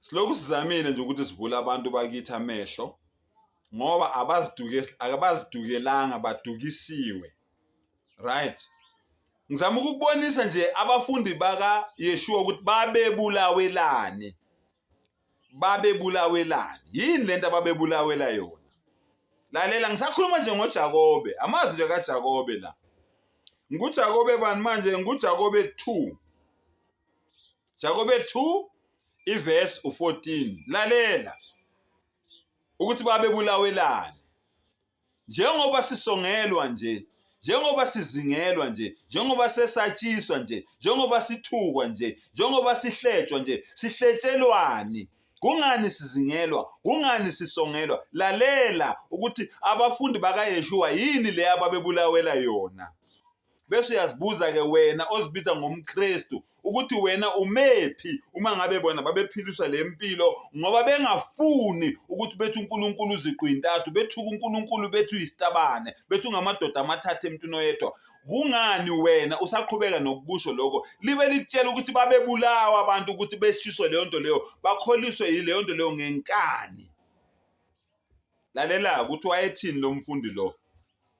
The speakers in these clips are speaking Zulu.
Silokhu sizamile nje ukuthi sivule abantu bakithi amehlo ngoba abaziduke akabazidukelanga badukisiwe. Right? Ngizama ukubonisa nje abafundi baka Yeshua ukuthi babebulawelani. Babebulawelani. Yini lento ababebulawela yona? lalela ngisakhuluma nje ngoJakobe amazwi nje kaJakobe la nguJakobe bani manje nguJakobe 2 Jakobe 2 ivesi u14 lalela ukuthi babebulawelani njengoba sisongelwa nje njengoba sizingelwa nje njengoba sesatshiswa nje njengoba sithukwa nje njengoba sihletshwa nje sihletshelwani kungani sizingelwa kungani sisongelwa lalela ukuthi abafundi bakayeshuwa yini le ababebulawela yona bese uyazibuza-ke wena ozibiza ngomkristu ukuthi wena umephi uma ngabe bona babephiliswa le mpilo ngoba bengafuni ukuthi bethi unkulunkulu uziqu yintathu bethuka unkulunkulu bethi uyisitabane bethi ungamadoda amathathu emntwini oyedwa kungani wena usaqhubeka nokukusho lokho libe likutshela ukuthi babebulawa abantu ukuthi beshiswe leyo nto leyo bakholiswe yileyo nto leyo ngenkani lalela ukuthi wayethini lo mfundi lo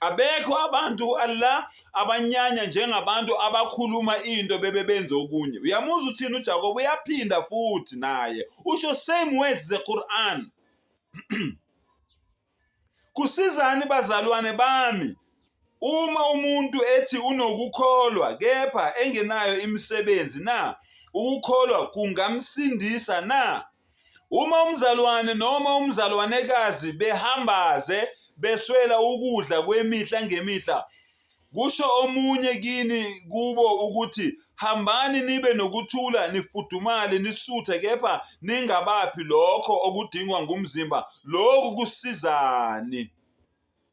abekho abantu Allah abanyanya njengabantu abakhuluma into bebe benze okunye uyamuzwa uthini uJakobe uyaphinda futhi naye usho same words the Quran kusizani bazalwane bami uma umuntu ethi unokukholwa kepha engenayo imisebenzi na ukukholwa kungamsindisa na Uma umzalwane noma umzalwanekazi behambaze beswela ukudla kwemihla ngemihla, kusho omunye kini kubo ukuthi hambani nibe nokuthula nifudumale nisuthe kepha ningabaphi lokho okudingwa ngumzimba lokhu kusizani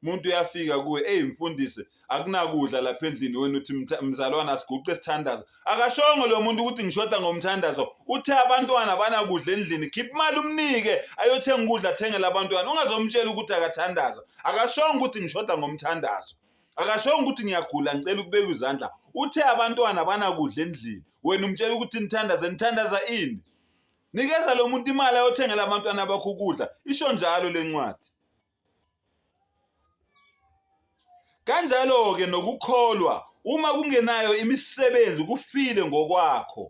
umuntu uyafika kuwe eyi mfundisi akunakudla lapha endlini wena uthi mzalwane asiguqe isithandazo akashongo lo muntu ukuthi ngishoda ngomthandazo uthe abantwana banakudla endlini khipha imali umnike ayothenga ukudla athengele abantwana ungazomtshela ukuthi akathandaza akashongo ukuthi ngishoda ngomthandazo akashongo ukuthi ngiyagula ngicela ukubeka izandla uthe abantwana banakudla endlini wena umtshela ukuthi nithandaze nithandaza ini nikeza lo muntu imali ayothengela abantwana bakho ukudla isho njalo le ncwadi Kanjalo-ke nokukholwa, uma kungenayo imisebenzi kufile ngokwakho.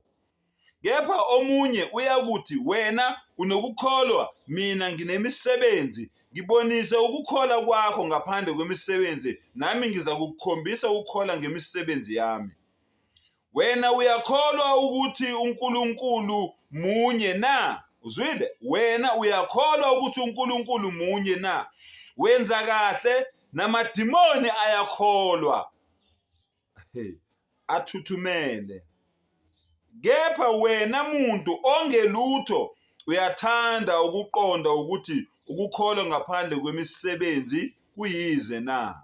Kepha omunye uyakuthi, Wena unokukholwa, mina nginemisebenzi. Ngibonise ukukholwa kwakho ngaphandle kwemisebenzi, nami ngizakukhombisa ukukholwa ngemisebenzi yami. Wena uyakholwa ukuthi uNkulunkulu munye na? Uzwile? Wena uyakholwa ukuthi uNkulunkulu munye na? Wenza kahle, namadimoni ayakholwa. Hey, athuthumele. Kepha wena muntu ongelutho uyathanda ukuqonda ukuthi ukukholwa ngaphandle kwemisebenzi kuyize na?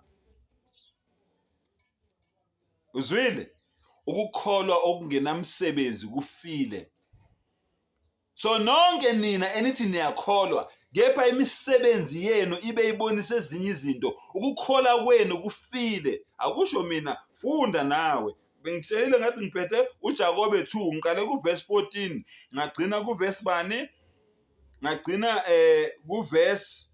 uzwile ukukholwa okungenamsebenzi kufile so nonke nina enithi niyakholwa kepha imisebenzi yenu ibe ibonisa ezinye izinto ukukhola kwenu kufile akusho mina funda nawe bengitshelile ngathi ngiphethe uJakobe 2 ngiqale kuverse 14 ngagcina kuverse bani ngagcina eh kuverse